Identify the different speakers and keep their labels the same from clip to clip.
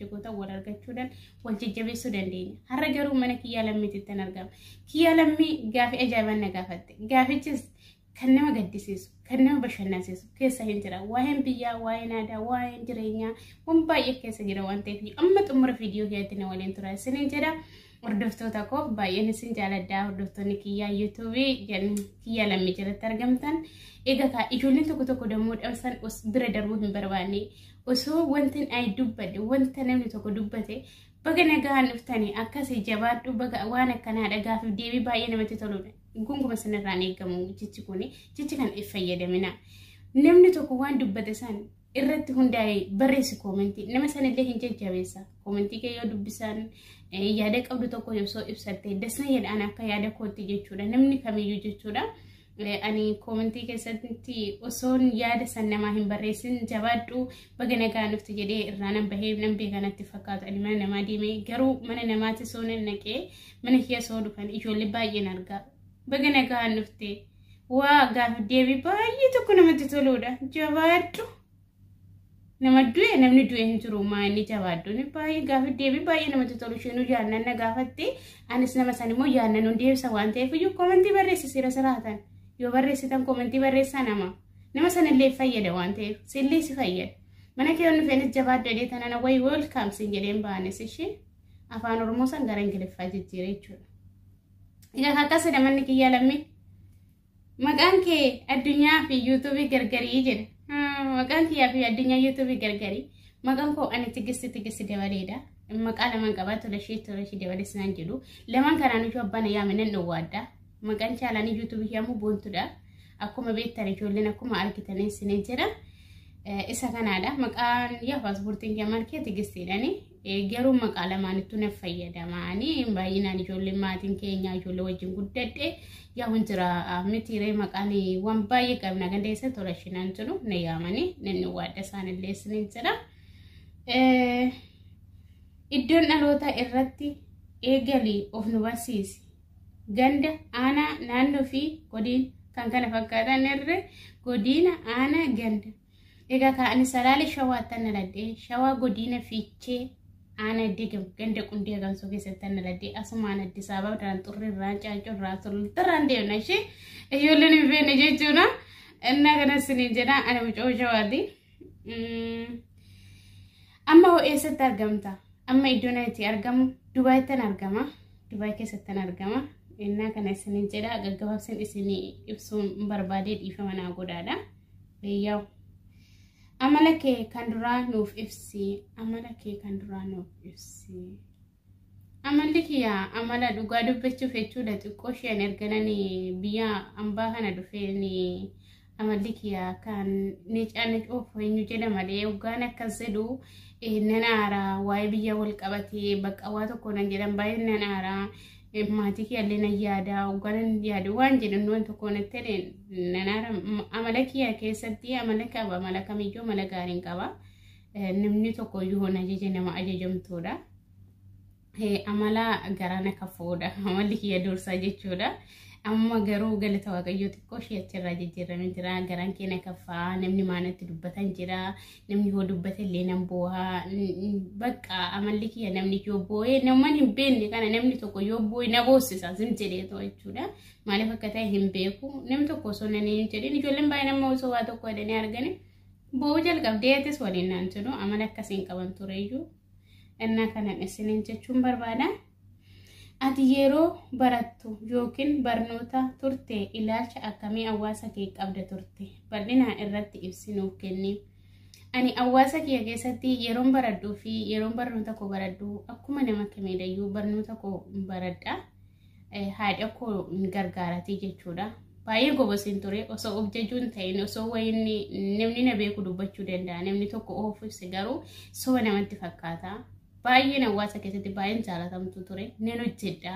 Speaker 1: jigootan wal argachuudhaan wal jajjabeessuu dandeenya. Har'a garuu mana kiyyaa lammiitittan argama. Kiyyaa lammii gaafii ajaa'ibaan na gaafatte. Gaafichis kan nama gaddisiisu, kan nama bashannansiisu keessa hin jira. Waa'een biyyaa, waa'een aadaa, waa'een jireenyaa waan baay'ee keessa jira waan ta'eef amma xumura viidiyoo kiyyaatti na waliin tura isiniin jedha. Hordoftoota koo baay'een isin jaaladha. Hordoftoonni kiyyaa yuutuubii kiyyaa lammii jalatti argamtan. Egaa kaa ijoolleen tokko tokko dammoo dhamsan os bira darbuu hin barbaanne. Osoo wanti ani dubbadhe wanta namni tokko dubbate baga nagaan dhuftanii akkasii jabaadhu baga waan akkanaa dhagaafiif deebii baay'ee namatti toludha. Gunguma sanarraan eegamu jechi kun jechi kan fayyadamina. Namni tokko waan dubbate san irratti hundaa'e barreessi koomentii nama sanillee hin jajjabeessa koomentii kee yoo dubbisaan yaada qabdu tokko osoo ibsatte dasna jedhaan akka yaada kootti jechuudha namni kamiyyuu jechuudha ani koomentii keessatti osoon yaada san namaa hin barreessin jabaadhu baga nagaa nufti jedhee irraa nan bahee nan beekanatti fakkaatu ani mana namaa deemee garuu mana namaatti soo nan naqee mana kiyya soo dhufan ijoollee baay'een argaa baga nagaa nufte. Waa gaafii deebii baay'ee tokko namatti toluudha. Jabaadhu. Nama du'e namni du'e hin jiru maa inni jabaadhu. Inni baay'ee gaafii deebii baay'ee namatti tolu isheenuu yaadnan na gaafatte anis nama san immoo yaadnan nu deebisa waan ta'eef iyyuu koomentii barreessi sira siraatan yoo barreessitan koomentii barreessaa nama nama sanillee fayyada waan ta'eef sillee si fayyada. Mana kee onni feenis jabaadhu jedhee tanana wayi weelkaam siin jedheen baanis ishee afaan oromoo san gara ingiliffaa jijjiiree jechuudha. Ina kakkaasa namanni kiyyaa lammii. Maqaan kee addunyaa fi yuutuubii gargarii jedha. Maqaan kiyyaa fi addunyaa yuutuubii gargarii. Maqaan koo ani tigisti tigisti dabaleedha. Maqaa lamaan qabaa tola ishee tola ishee dabalees naan jedhu. Lamaan kanaan iyyuu abbaan yaame nan dhowwaadha. Maqaan chaalaanii yuutuubii yaamuu boontudha. Akkuma beektan ijoolleen akkuma argitan isinee jira. Isa kanaadha. Maqaan yaa paaspoortiin kiyyaa maal kee tigistiidhaani. Garuu maqaa lamaanittuu na fayyadama. Ani baay'inaan ijoolleen maatiin keenya ijoollee wajjin guddadhe yaa'uun jira mitiiree maqaan waan baay'ee qabna ganda isa tola shinaan jiru na yaamanii namni waadda isaanillee isiniin jira. Iddoon dhaloota irratti eegalii of nu barsiisi. Ganda, aanaa, naannoo fi godina kan kana fakkaatan irra godina, aanaa, ganda. Egaa kaa ani salaalee shawaattan naladhee shawaa godiina fiichee aana digam ganda qundee agamsoo keessattan naladhee asumaan addis ababa irraan xurri irraan caancoo irraan sululta irraan deemna ishee ijoolleen hin beekne jechuudha innaa kana siniin jedha ani mucoo shawaati amma hoo eessatti argamta amma iddoon itti argamu dubaayittan argama dubaay keessattan argama innaa kana isiniin jedha gaggabaabsin isinii ibsuun barbaadee dhiifama naa godhaadha. Eeyyaw. Amala kee kan duraa nuuf ibsi. Amala kee kan duraa nuuf ibsi. Amalli kiyya amala dhugaa dubbachuuf jechuudha xiqqoo isheen erganan biyya ambaa kana dhufeen amalli kiyya kan ni caanni dhufu eenyu jedha malee hoggaan akkas jedhu nan aara waa'ee biyya wal qabatee bakka waa tokko nan jedhan baay'een nan aara maatii kiyyaallee nan yaada hogganan yaada waan jedhan waan tokko natti nanaara amala kiyya keessatti amala qaba amala kamiyyuu amala gaariin qaba namni tokko iyyuu hoon ajaje nama ajajamtuudha amala garaa na kafuudha amalli kiyya dursaa jechuudha amma garuu galata waaqayyoo xiqqoo ishee achirraa jijjiirame jira garaan kee na kafaa namni maanatti dubbatan jira namni yoo dubbate illee nan boohaa bakka amalli kiyya namni yoo boo'ee naman hin beekne kana namni tokko yoo boo'e na boossisa sin jedhee too jechuudha maaliif akka ta'e hin beeku namni tokko osoo nan hin jedhin ijoolleen baay'een amma osoo waa tokko jedhanii arganii boo'uu jalqabdee atis waliin naan jedhu amala akkasiin qaban tureyyuu innaa kanan isiniin jechuun barbaada. Ati yeroo barattu yookiin barnoota turte ilaalcha akkamii hawaasa kee qabda turte? Bal'inaan irratti ibsi nuuf kenni. Ani hawaasa kiyya keessatti yeroon baradhuu fi yeroon barnoota koo baradhu akkuma nama kamiidhayyuu barnoota koo baradha. Haadha koo gargaaratii jechuudha. Baay'ee gobosiin ture osoo of jajuun ta'in osoo wayinni namni na beeku dubbachuu danda'a namni tokko oofuuf garuu soba namatti fakkaata. Baay'een hawaasa keessatti baay'een jaalatamtu ture. Nan hojjedha.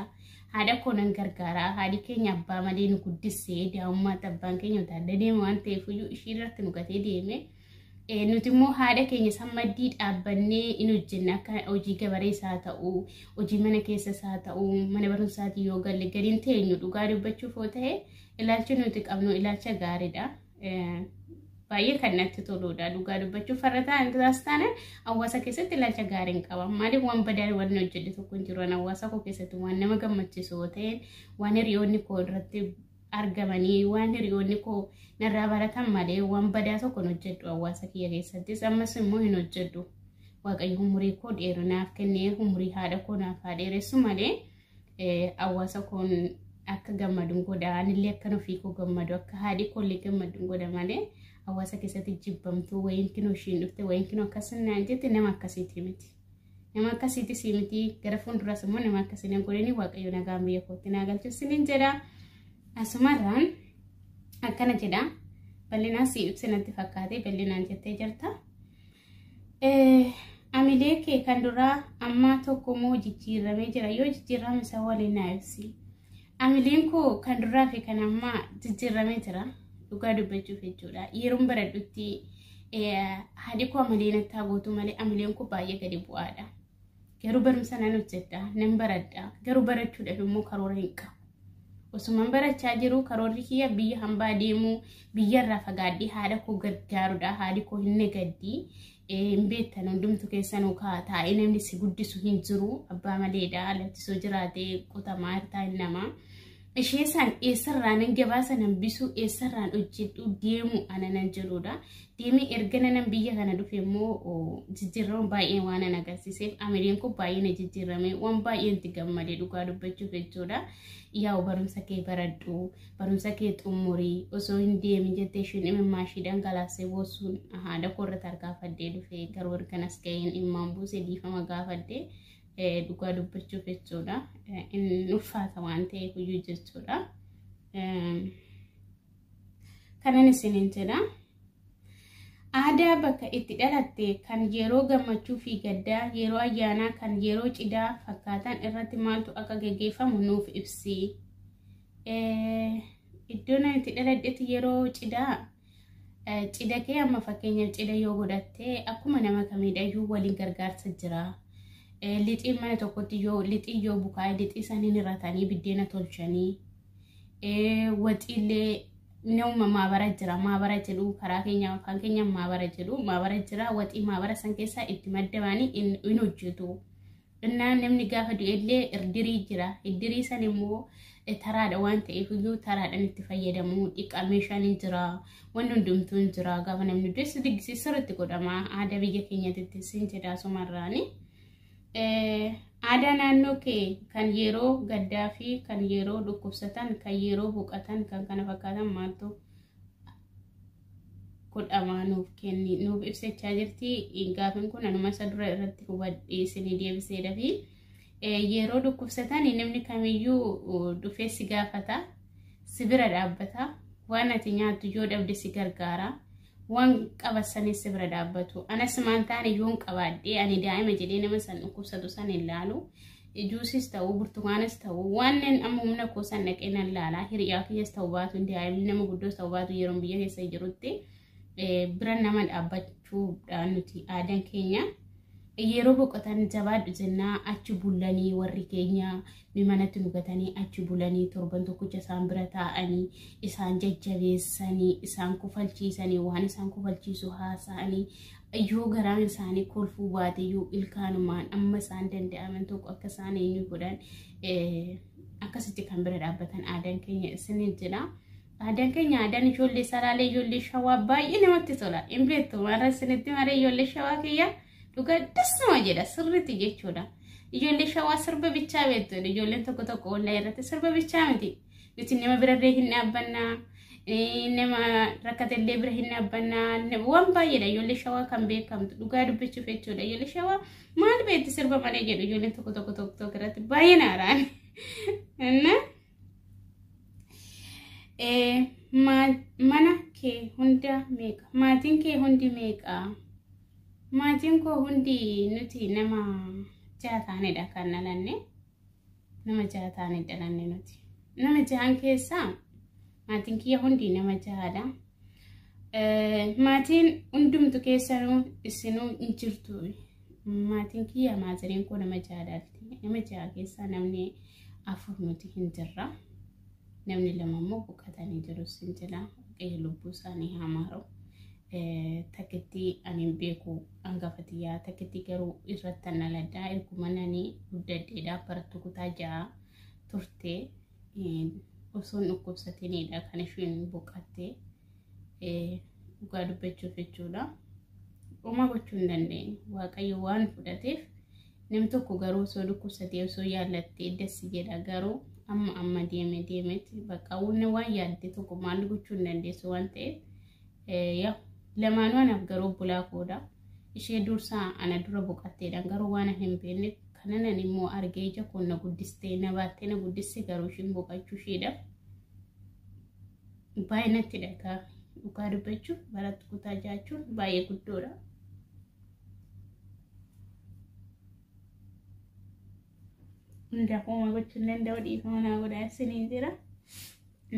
Speaker 1: Haadha koo nan gargaara. Haadhi keenya abbaa malee nu guddisee daa'ummaatti abbaan keenya utaallee deema waan ta'eef iyyuu ishii irratti nu gatee deeme. Eh, Nuti immoo haadha keenya san maddii dhaabbannee in hojjenna akka hojii gabaree isaa ta'u, hojii mana keessa isaa ta'u, mana barumsaatii yoo galle gadi hin teenyu dhugaa dubbachuuf yoo ta'e ilaalchi nuti qabnu ilaalcha gaariidha. baay'ee kan natti toludha. Dhugaa dubbachuuf farra ta'an isaas taane hawaasa keessatti ilaalcha gaarii hin qaban. Maaliif waan badaa waan hojjete tokko hin jiru. Hawaasa koo keessatti waan nama gammachiisu yoo ta'e waan hiriyoonni koo irratti argamanii waan hiriyoonni koo narraa baratan malee waan badaa tokko hin hojjedhu hawaasa kiyya keessattis ammas immoo hin hojjedhu. Waaqayyo umurii koo dheerinaaf kennee umurii haadha koo naaf haa dheeressu malee. Hawaasa koon akka gammadun godha. Anillee akkan ofii koo gammadu akka haadhi koollee gammadun godha malee hawaasa keessatti jibbamtuu wayiin kinoo ishiin dhufte wayiin kinoo akkas naan jette nama akkasiitii miti. Nama akkasiitii sii miti gara fuulduras immoo nama akkasii nan godhanii waaqayyo nagaan biyya kootti naa galchus sinin jedha. Asumarraan akkana jedha bal'inaan sii ibsinatti fakkaatee bal'inaan jettee jirta. Amilee kee kan duraa ammaa tokko moo jijjiirramee jira yoo jijjiirrame isa waliin naa ibsi. Amileen koo kan duraa fi kan ammaa jijjiirramee jira dhugaa dubbachuuf jechuudha. Yeroon baradhutti haadhi koo amaleen akkaa gootu malee amileen koo baay'ee gadi bu'aadha. Garuu barumsa nan hojjedha, nan baradha. Garuu barachuudhaaf immoo karoora hin qabu. Osuman barachaa jiru karoorri kiyya biyya hambaa deemuu, biyyarraa fagaadhee haadha koo gargaarudha. Haadhi koo hin nagaddi. Hin beektan hundumtu keessanuu kaa taa'ee namni si guddisu hin jiru. Abbaa maleedha lachisoo jiraatee qutamaa hirtaa hin namaa. ishee san eessarraa nan gabaasa nan bisuu eessarraan hojjedhu deemu ana nan jedhudha. Deemee erga nanan biyya kana dhufe immoo jijjiirrama baay'ee waan an agarsiiseef amiriin kun baay'ee na jijjiirrame waan baay'ee itti gammade dhugaa dubbachuuf jechuudha. Yaa'u barumsa kee baradhu barumsa kee xumurii osoo hin deemin jettee isheen imimmaa ishee dhangalaasee boosuun haadha koo irratti harkaafadhee dhufe garuu ergan as ga'een immaan buuse dhiifama gaafadhee. Dhugaa dubbachuuf jechuudha. Inni ulfaata waan ta'eef iyyuu jechuudha. Kanan isiniin jedha. Aadaa bakka itti dhalatte kan yeroo gammachuu fi gaddaa, yeroo ayyaanaa kan yeroo cidhaa fakkaatan irratti maaltu akka gaggeeffamu nuuf ibsi. Iddoo nan itti dhaladhetti yeroo cidhaa Cida kee amma fakkeenyaaf cida yoo godhatte akkuma nama kamiidhayyuu waliin gargaarsa jira. Lixiin mana tokkotti yoo lixii yoo bukaa'e lixii saniin irratanii biddeena tolchanii waxiillee nama maabara jira maabara jedhu karaa keenya kan keenya maabara jedhu maabara jira waxii maabara san keessaa itti maddamanii in hojjetu. Innaa namni gaafa du'ellee irdirii jira. Iddirii san immoo taraadha waan ta'eef iyyuu taraadhaan itti fayyadamu. Dhiqaa meeshaan hin jira. Wanni hundumtuu hin jira. Gaafa namni du'es diggisi sirriitti godhama. Aadaa biyya keenyatti sin jedhaa sumarraani. Aadaa naannoo kee kan yeroo gaddaa fi kan yeroo dhukkubsatan, kan yeroo boqatan, kan kana fakkaatan maaltu godhamaa nuuf kenni nuuf ibsachaa jirti gaafin kun anuma isa dura irratti hubadhee isinii deebisee dafi yeroo dhukkubsatan namni kamiyyuu dhufee si gaafata si bira dhaabbata waan ati nyaattu yoo dhabde si gargaara waan qabatanii si bira dhaabbatu anas maan taane yoon qabaadhee ani daa'ima jedhee nama san dhukkubsatu san hin laalu Juusis ta'u burtukaanus ta'u wanneen amma humna koo san dhaqee nan laala hiriyaa kiyyas ta'u baatu daa'imni nama guddoos ta'u baatu yeroo biyya keessa jirutti bira nama dhaabbachuudha nuti aadaan keenya. Yeroo boqotan jabaadhu jennaa achi bulanii warri keenya mimanatti nugatanii achi bulanii torban tokkicha isaan bira taa'anii isaan jajjabeessanii isaan kofalchiisanii waan isaan kofalchiisu haasa'anii yoo garaan isaanii kolfuu baateyyuu ilkaanumaan amma isaan danda'aman tokko akka isaan eenyu godhan akkasitti kan bira dhaabbatan aadaan keenya isiniin jira. Aadaan keenya aadaan ijoollee saraalee ijoollee shawaa baay'ee namatti tola. Hin beektu warra isinitti maree ijoollee shawaa kiyya dhugaa das nama jedha sirriitti jechuudha. Ijoollee shawaa sirba bichaa beektu ijoolleen tokko tokko ollaa irratti sirba bichaa miti. nuti nama birallee hin dhaabbanna nama rakkatellee bira hin dhaabbanna waan baay'eedha ijoollee shawaa kan beekamtu dhugaa dubbachuuf jechuudha ijoollee shawaa maal beekti sirba malee jedhu ijoolleen tokko tokko tokko tokko irratti baay'ee naaraan inna mana kee hunda meeqa maatiin kee hundi meeqa maatiin koo hundi nuti nama jaha taanedha kan dhalanne Nama jaha taanee dhalanne nuti. Nama jahan keessaa maatiin kiyya hundi nama jahaadha. Maatiin hundumtu keessanuu isinuu hin jirtu. Maatiin kiyya maaziriin koo nama jahaadha. Nama jaha keessaa namni afur nuti hin jirra. namni lama immoo boqatanii jiru sin jedha waaqayyo lubbuu isaanii haa maaru takkittii ani hin beeku hangafa tiyyaa takkittii garuu irratti an dhaladhaa erguma nani guddadheedhaa barattu kutaa ja'a turte osoon dhukkubsatiniidha kan isheen boqattee dhugaa dubbachuuf jechuudha. Homaa gochuu hin dandeenye. Waaqayyo waan fudhateef nam tokko garuu osoo dhukkubsatee osoo yaallattee dassi jedha garuu amma amma deeme deemetti bakka wanni waan yaadde tokko maal gochuu hin dandeessu waan ta'eef yaa lamaanuu anaaf garuu obbolaa koodha. Ishee dursaa ana dura boqatteedhaan garuu waan hin beekne kananan immoo argee ija koo na guddistee na baattee na guddiste garuu ishiin boqachuu isheedhaaf. baay'ee natti dhagaa dhugaa dubbachuuf barattu kutaa jaachuun baay'ee guddoodha. Hunda hooma gochuun danda'u dhiifama naa godhaa isiniin jira.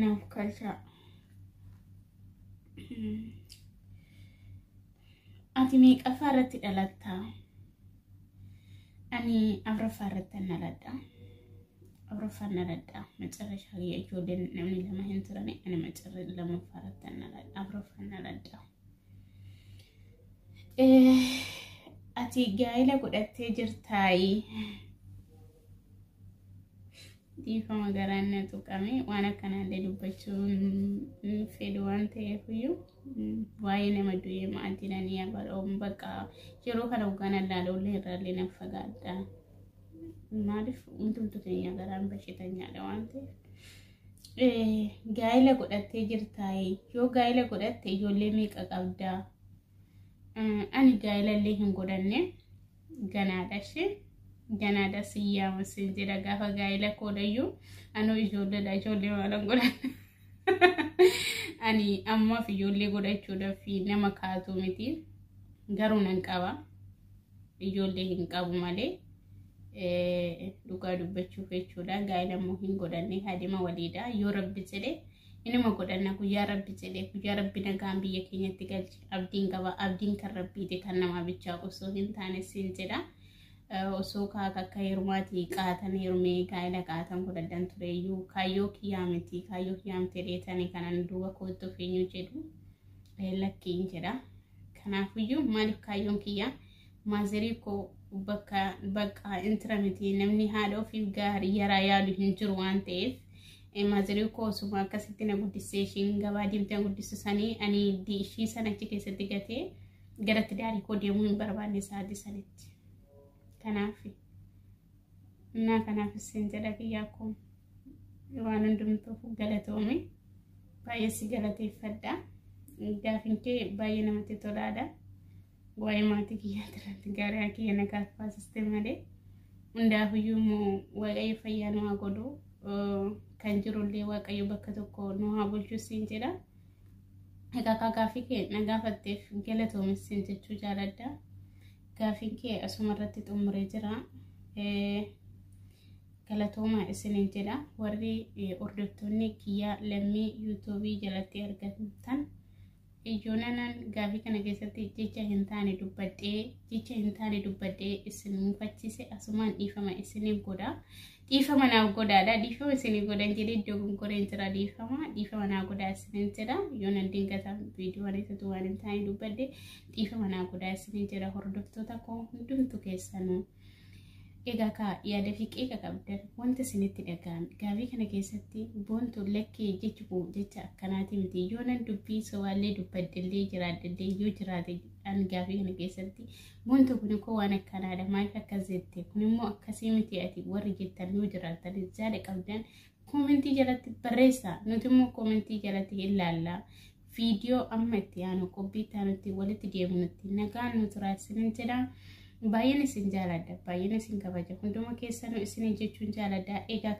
Speaker 1: Naaf kalchaa. Ati meeqaffaa irratti dhalattaa? Ani afraffaa irratti dhaladha. afraffaan dhaladha macarrashaa kiyya ijoolleen namni lama hin turani ani macarra lammaffaa irratti dhaladha afraffaan dhaladha. Ati gaa'ela godhattee jirtaayi. Dhiifama garaan na tuqame waan akkanaallee dubbachuu hin fedhu waan ta'eef iyyuu waa'ee nama du'ee maatii nanii abaloo bakka yeroo kana hogganaa laalollee irraallee nan fagaadha. Maaliif hundumtu keenya garaan bashitanyaadha waan ta'eef. Gaa'ila godhattee jirtaa yoo gaa'ila godhatte ijoollee meeqa qabdaa? Ani gaa'ila illee hin godhanne ganaadha ishee ganaadha siyyaa masin jedha gaafa gaa'ila koodhayyuu anuu ijoolleedha ijoollee maalan godhanne. Ani ammaaf ijoollee godhachuudhaaf nama kaatu miti garuu nan qaba. Ijoollee hin qabu malee dhugaa dubbachuuf jechuudha. Gaa'ela immoo hin godhanne haadhima waliidha. Yoo rabbi jedhe inuma godhanna guyyaa rabbi jedhe guyyaa rabbi nagaan biyya keenyatti galche abdiin qaba abdiin kan rabbiiti kan namaa bichaa osoo hin taane siin jedha. osoo kaaka akka heerumaati qaatan heerumee gaa'ela qaatan godhadhan tureyyuu kaayyoo kiyyaa miti kaayyoo kiyyaa miti dheetanii kanan duuba koottu feenyu jedhu lakkiin jedha. Kanaafuyyuu maaliif kaayyoon kiyya maazerii koo bakka bakka intira miti namni haadha ofiif gaarii yaraa yaadu hin jiru waan ta'eef maazerii koo osuma akkasitti na guddisee ishiin gabaa deemtee na guddisu sanii ani ishii sana achi keessatti gatee garatti daarii koo deemuu hin barbaanne sa'aatii sanitti. Kanaaf. Innaa kanaaf isin jedha kiyyaa koo waan hundumtuuf galatoomi. Baay'ee si galateeffadha. Gaafin kee baay'ee namatti tolaadha. Waa'ee maatii kiyyaa irratti gaariyaa kiyya na gaaffaasiste malee hundaafiyyuu immoo waaqayyo fayyaa nu haa godhu. Kan jirullee waaqayyo bakka tokko nu haa bulchu siin jedha. Egaa gaafii kee na gaafatteef galatoomi siin jechuu jaaladha. Gaafiin kee asuma irratti xumure jira. Galatooma isiniin jedha. Warri hordoftoonni kiyyaa lammii yuutuubii jalatti argamtan iyyoonanan gaafii kana keessatti jecha hin taane dubbadhee jecha hin taane dubbadhee isin mufachiise asumaan dhiifama isiniif godha. Dhiifama naaf godhaadha. Dhiifama isinii godhan jedhee dogongoreen jira dhiifama. Dhiifama naa godhaa isiniin jira. Yoo nan dingata viidiyoon isatu waan hin taane dubbadde dhiifama naa godhaa isiniin jira hordoftoota koo hundumtu keessanuu. Egaa kaa yaada fi qeeqa qabdan wanta isinitti dhaga'ame gaaffii kana keessatti boontu lakkee jechi koo jecha akkanaati miti yoo nan dubbii sobaallee dubbaddellee jiraaddellee yoo jiraate an gaaffii kana keessatti Buntu kun koo waan akkanaadha maaliif akkas jette kun immoo akkasii miti ati warri jettan yoo jiraattan jaada qabdan koomentii jalatti barreessaa nuti immoo koomentii jalatti hin laallaa viidiyoo amma itti aanu qophii itti aanutti walitti deemunutti nagaan nu turaa isinin jedha baay'een isin jaaladha baay'een isin kabaja hunduma keessanuu isin jechuun jaaladha egaa